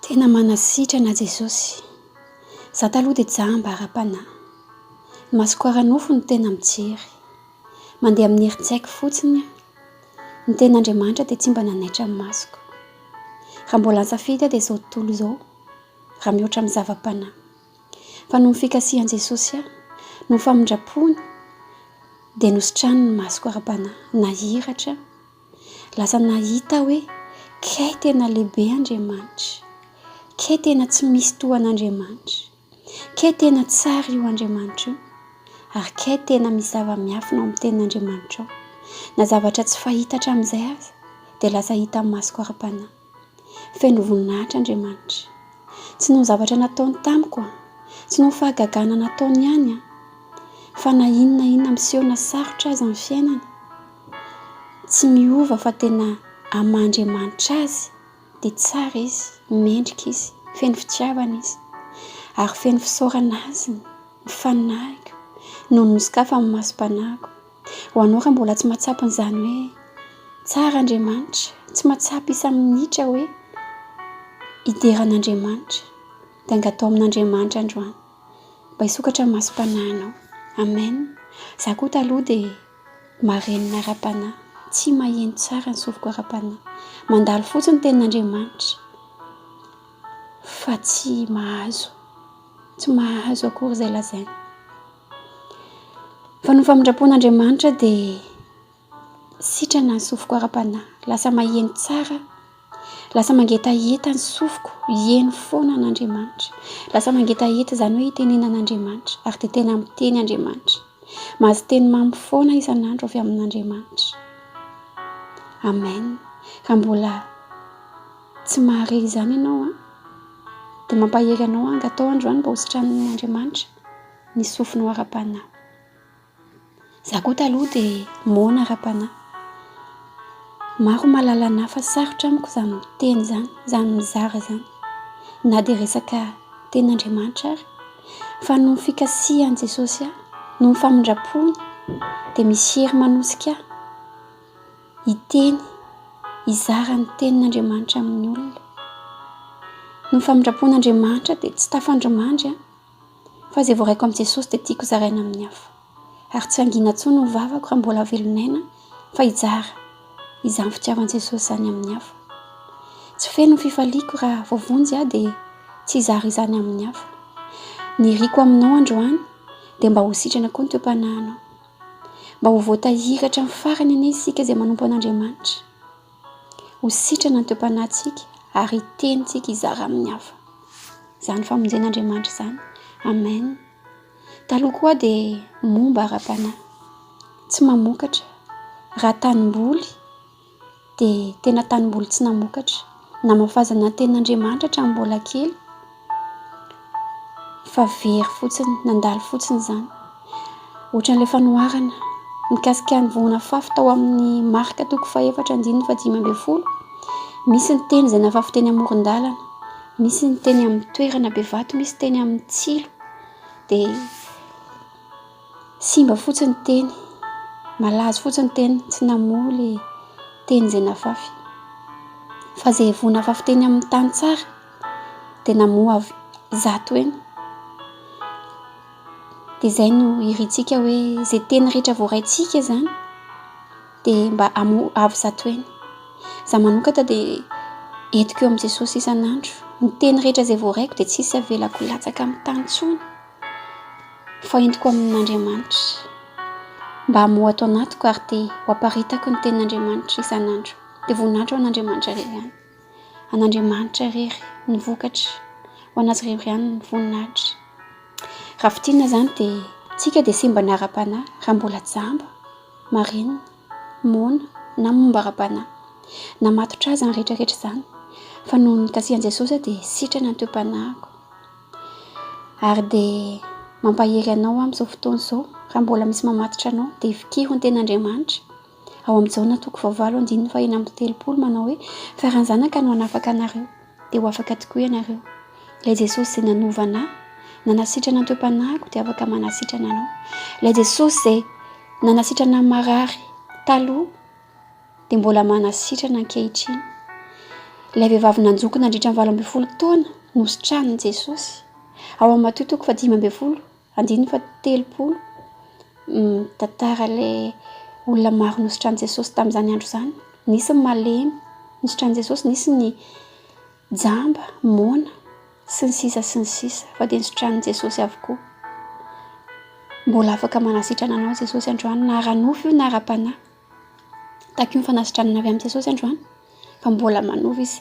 Tena manasitrana Jesosy. Za taloha dia jamba ara-panahy. Ny masoko ara-nofo no tena mijery. Mandeha amin'ny herin-tsaiko fotsiny aho. Ny tenin'Andriamanitra dia tsy mba nanaitra ny masoko. Raha mbola nisafidy aho dia izao tontolo izao, raha mihoatra amin'ny zava-panahy. Fa noho ny fikasihan'i Jesosy ahy, noho ny famindram-pony, dia nositrany ny masoko ara-panahy. Nahiratra aho. Lasa nahita hoe kay tena lehibe Andriamanitra, kay tena tsy misy tohan'Andriamanitra, kay tena tsara io Andriamanitra io, ary kay tena misy zava-miafina ao amin'ny tenin'Andriamanitra ao. Na zavatra tsy fahita hatramin'izay aza dia lasa hita amin'ny masoko ara-panahy. Feno voninahitra Andriamanitra. Tsy noho ny zavatra nataony tamiko an, tsy noho ny fahagagana nataony ihany an, fa na inona na inona miseho na sarotra aza ny fiainana, tsy miova fa tena amin'ny maha Andriamanitra Azy dia tsara Izy, mendrika Izy, feno fitiavana Izy. Ary feno fisaorana Azy ny faninahiko noho ny nosokafany ny masom-panahiko. Ho anao raha mbola tsy mahatsapa an'izany hoe tsara Andriamanitra, tsy mahatsapa isa-minitra hoe hidera an'Andriamanitra, dia angataho amin'Andriamanitra androany mba hisokatra ny masom-panahinao. Amen. Izaho koa taloha dia marenina ara-panahy, tsy maheno tsara ny sofiko ara-panahy. Mandalo fotsiny ny tenin'Andriamanitra fa tsy mahazo, tsy mahazo akory izay lazainy. Fa ny famindram-pon'Andriamanitra dia sitrana ny sofiko ara-panahy. Lasa maheno tsara, lasa mangetaheta ny sofiko hihaino foana an'Andriamanitra. Lasa mangetaheta izany hoe hitenenana an'Andriamanitra ary dia tena miteny Andriamanitra. Mahazo teny mamy foana isan'andro avy amin'Andriamanitra. Amen. Raha mbola tsy mahare izany ianao dia mampahery anao aho hangatao androany mba hositranin'Andriamanitra. ny sofinao ara-panahy. Za koa taloha de moana ara-panahy. Maro mahalala anah fa sarotra amiko zany miteny zany, zany mizara zany. Na de resaka tenin'Andriamanitra ary. Fa noho ny fikasihan'i Jesosy ahy, noho ny famindram-pony, de misy hery manosika ahy hiteny, hizara ny tenin'Andriamanitra amin'ny olona. Noho ny famindram-pon'Andriamanitra de tsy tafandrimandry aho. Fa izay voaraiko amin'i Jesosy dia tiako zaraina amin'ny hafa. Ary tsy hangina intsony ny vavako raha mbola velon'aina fa hijara izany fitiavan'i Jesosy izany amin'ny hafa. Tsy feno ny fifaliako raha voavonjy aho dia tsy hizara izany amin'ny hafa. Ny iriko aminao androany dia mba ho sitrana koa ny toe-panahinao. Mba ho voatahiry hatramin'ny farany anie isika izay manompo an'Andriamanitra. Ho sitrana ny toe-panahintsika ary hiteny isika hizara amin'ny hafa izany famonjen'Andriamanitra izany. Amen. Taloha koa aho dia momba ara-panahy, tsy mamokatra. Raha tanimboly dia tena tanimboly tsy namokatra. Namafazana ny tenin'Andriamanitra hatramin'ny mbola kely. fa very fotsiny, nandalo fotsiny izany. Ohatran'ilay fanoharana mikasika ny voan'afafy tao amin'ny marika toko fahefatra andininy fahadimy ambin'ny folo. Misy ny teny izay nafafy teny amoron-dalana, misy ny teny amin'ny toerana be vato, misy teny amin'ny tsilo. Dia simba fotsiny ny teny, malazo fotsiny ny teny, tsy namoa ilay teny izay nafafy. Fa izay voan'afafy teny amin'ny tany tsara, tena moa avy zato eny dia izay no irintsika hoe izay teny rehetra voaraintsika izany dia mba amoa avy zato eny za manokana dia entiko eo amin'i Jesosy isan'andro ny teny rehetra izay voaraiko dia tsisy avelako latsaka amin'ny tany intsony fa entiko amin'Andriamanitra mba amoa ato anatiko ary dia ho aparitako ny tenin'Andriamanitra isan'andro dia voninahitra ho an'Andriamanitra irery ihany an'Andriamanitra irery ny vokatra ho an'azy irery ihany ny voninahitra. Raha fintinina izany dia tsika dia simba ny ara-panahy raha mbola jamba, marina, moana na momba ara-panahy. Na matotra aza ny rehetra rehetra izany fa noho ny nikasihan'i Jesosy aho dia sitrana ny toe-panahiko. Ary dia mampahery anao amin'izao fotoana izao raha mbola misy mamatotra anao dia vikiro ny tenin'Andriamanitra. Ao amin'i Jaona toko fahavalo andininy fahena amby telopolo manao hoe, Fa raha ny Zanaka no hanafaka anareo, dia ho afaka tokoa ianareo. Ilay Jesosy izay nanova anà, nanasitrana ny toe-panahiko dia afaka manasitrana anao. Ilay Jesosy izay nanasitrana ny marary taloha dia mbola manasitrana ankehitriny. Ilay vehivavy nanjoko nandritra ny valo ambin'ny folo taona nositranin'i Jesosy ao amin'ny Matio toko fahadimy ambin'ny folo. Andininy fahatelopolo, mitantara ilay olona maro nositran'i Jesosy tamin'izany andro izany. Nisy ny malemy nositran'i Jesosy, nisy ny jamba, moana, sy ny sisa sy ny sisa, fa dia nositran'i Jesosy avokoa. Mbola afaka manasitrana anao Jesosy androany, na ara-nofo io na ara-panahy. Tahaka io ny fanasitranana avy amin'i Jesosy androany, fa mbola manova Izy.